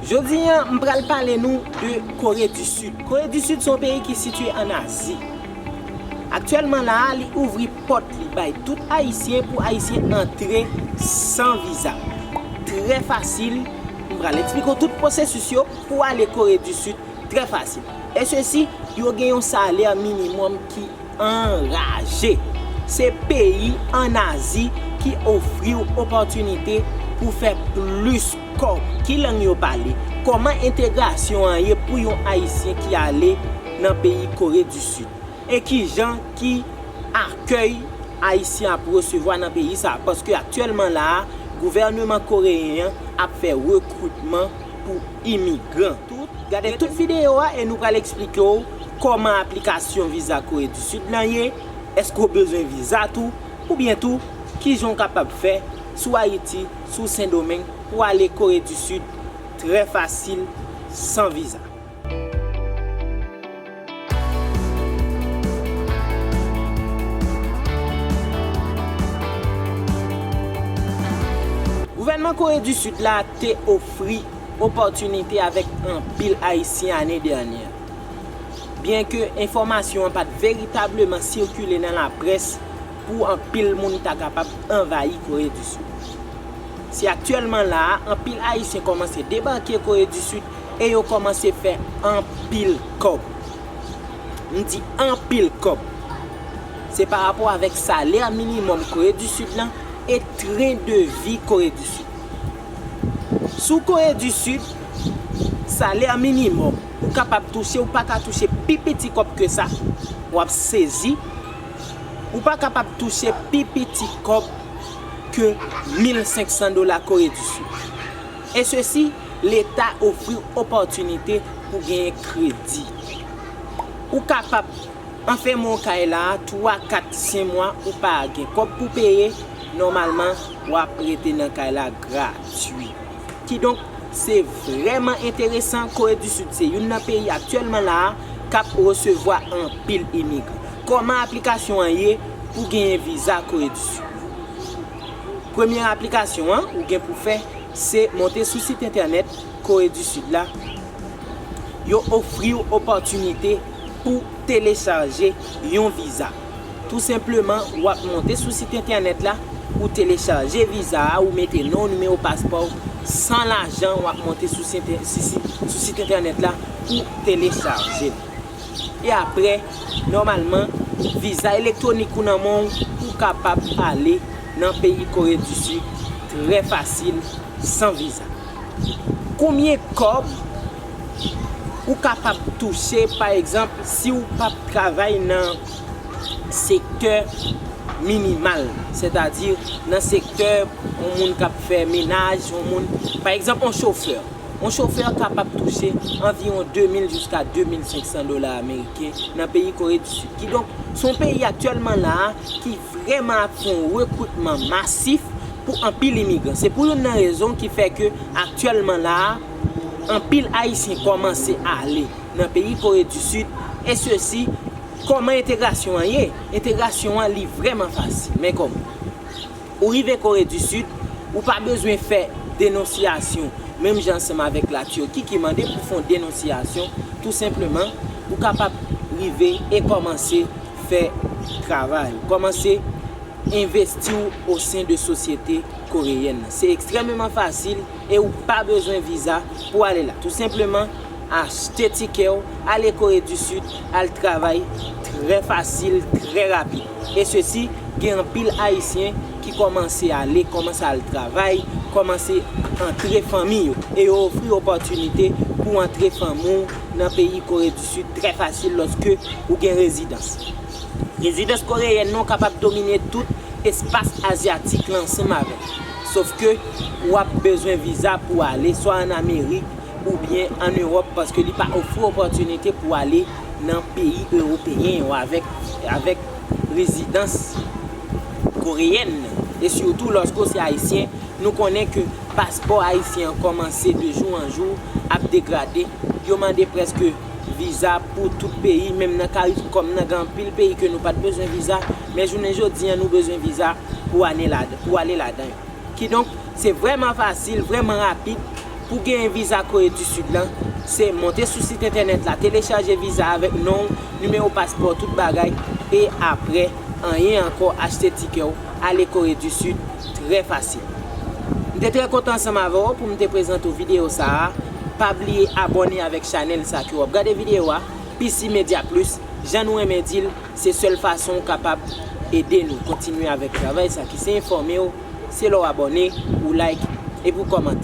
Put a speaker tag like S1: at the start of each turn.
S1: Jodi an, m pral pale nou de Kore di Sid. Kore di Sid se yon peyi ki sitye an Azi. Aktyèlman la a, li ouvri pòt li bay tout Ayisyen pou Ayisyen antre san viza. Trè fasil, m pral eksplike w tout pwosesis yo pou ale Kore di Sid trè fasil. E sesi, yo gen yon salè minimòm ki. Anraje! Se peyi an Azi ki ofri w opòtinite pou w fè plis kòb. Ki lang yo pale? Kòman entegrasyon an ye pou yon Ayisyen ki ale nan peyi Kore di Sid? E kijan ki akèy Ayisyen ap resevwa nan peyi sa a? Paske aktyèlman la a, gouvèneman koreyen an ap fè rekritman pou. imigran. Gade tout videyo a e nou pral eksplike w kòman aplikasyon viza Kore di Sid lan ye, èske w bezwen viza tou, oubyen tou kijan w kapab fè sou Ayiti, sou Sendomeng pou w ale Kore di Sid trè fasil san viza. Gouvènman Kore di Sid la te ofri opòtinite avèk anpil Ayisyen ane dènyè. Byenke enfòmasyon an pa t veritableman sikile nan laprès pou anpil moun ta kapab anvayi Kore di Sid. Se aktyèlman la a, anpil Ayisyen kòmanse debake Kore di Sid E yo kòmanse fè anpil kòb. M di anpil kòb. Se pa rapò avèk salè minimòm Kore di Sid lan e tren de vi Kore di Sid. Sou Kore di Sid, salè minimòm ou kapab touche, ou pa ka touche pi piti kòb ke sa. W ap sezi, ou pa kapab touche pi piti kòb ke 1500 dola Kore di Sid. E sesi. Leta ofri opòtinite pou genyen kredi. Ou kapab anfèmen w kay la a twa, kat, sen mwa ou pa gen kòb pou peye, nòmalman w ap rete nan kay la gratui. Kidonk, se vrèman enteresan, Kore di Sid se youn nan peyi aktyèlman la a k ap resevwa anpil imigran. Kòman aplikasyon an ye pou genyen viza Kore di Sid? Premye aplikasyon an ou gen pou fè, Se monte sou sit entènèt Kore di Sid la, yo ofri w opòtinite pou telechaje yon viza. Tou senpleman, w ap monte sou sit entènèt la, ou telechaje viza a, ou mete non w, nimewo paspò w, san lajan, w ap monte sou sit entènèt la pou w telechaje l. E aprè, nòmalman, viza elektwonik ou nan men w, ou kapab ale. nan peyi kore du sud trè fasil san viza konbyen kòb ou kapab touche pa egzanp siw pap travay nan sektè minimal sètadi nan sektè yon moun kap fè menaj yon moun pa egzanp yon chofè yon chofè kapab touche anviwon 2000 jiska 2500 dola ameriken nan peyi kore du sud kidonk son peyi aktyèlman la ki Vrèman ak yon rekritman masif pou anpil imigran. Se pou youn nan rezon ki fè ke aktyèlman la a, anpil Ayisyen kòmanse ale nan peyi Kore di Sid, e sesi, kòman entegrasyon an ye? Entegrasyon an li vrèman fasil. Men kòman? Ou rive Kore di Sid, ou pa bezwen fè denonsyasyon, menm jan ansanm avèk la Tirki ki mande pou fè yon denonsyasyon, tou senpleman, ou kapab rive e kòmanse. fè travay ou. Kòmanse envesti w osen de sosyete koreyèn nan. Se ekstrèmeman fasil e ou pa bezwen viza pou ale la. Tou senpleman, achte tikè w, ale Kore di Sid, al travay trè fasil, trè rapid. E sesi, gen anpil Ayisyen ki kòmanse ale, kòmanse al travay, kòmanse antre fanmi yo. E yo ofri opòtinite pou antre fanmi w nan peyi Kore di Sid. Sud trè fasil lòske ou gen rezidans. Rezidans koreyèn nan w kapab domine tout espas azyatik la ansanm avè l. Sof ke ou ap bezwen viza pou w ale swa an Amerik oubyen an Ewòp paske li pa ofri w opòtinite pou w ale nan peyi ewopeyen yo avèk avèk rezidans koreyèn nan. E sitou lòske w se ayisyen, nou konnen ke paspò ayisyen an kòmanse de jou an jou. ap degrade, yo mande preske viza pou tout peyi, menm nan caricom nan gen anpil peyi ke nou pat bezwen viza, men jounen jodi an nou bezwen viza pou ane ladan, pou ale ladan yo. Kidonk, se vrèman fasil, vrèman rapid pou genyen viza Kore di Sid lan, se monte sou sit entènèt la, telechaje viza avèk non w, nimewo paspò w, tout bagay, e aprè, anyen ankò, achte tikè w, ale Kore di Sid trè fasil. M te trè kontan ansanm avè w pou m te prezante w videyo sa a, pa bliye abòne avèk chanèl sa ke w ap gade videyo a, PC Media Plus, jan nou renmen di l, se sèl fason w kapab ede nou kontinye avèk travay sa ki se enfòme w, se lè w abòne, ou like epi w kòmante.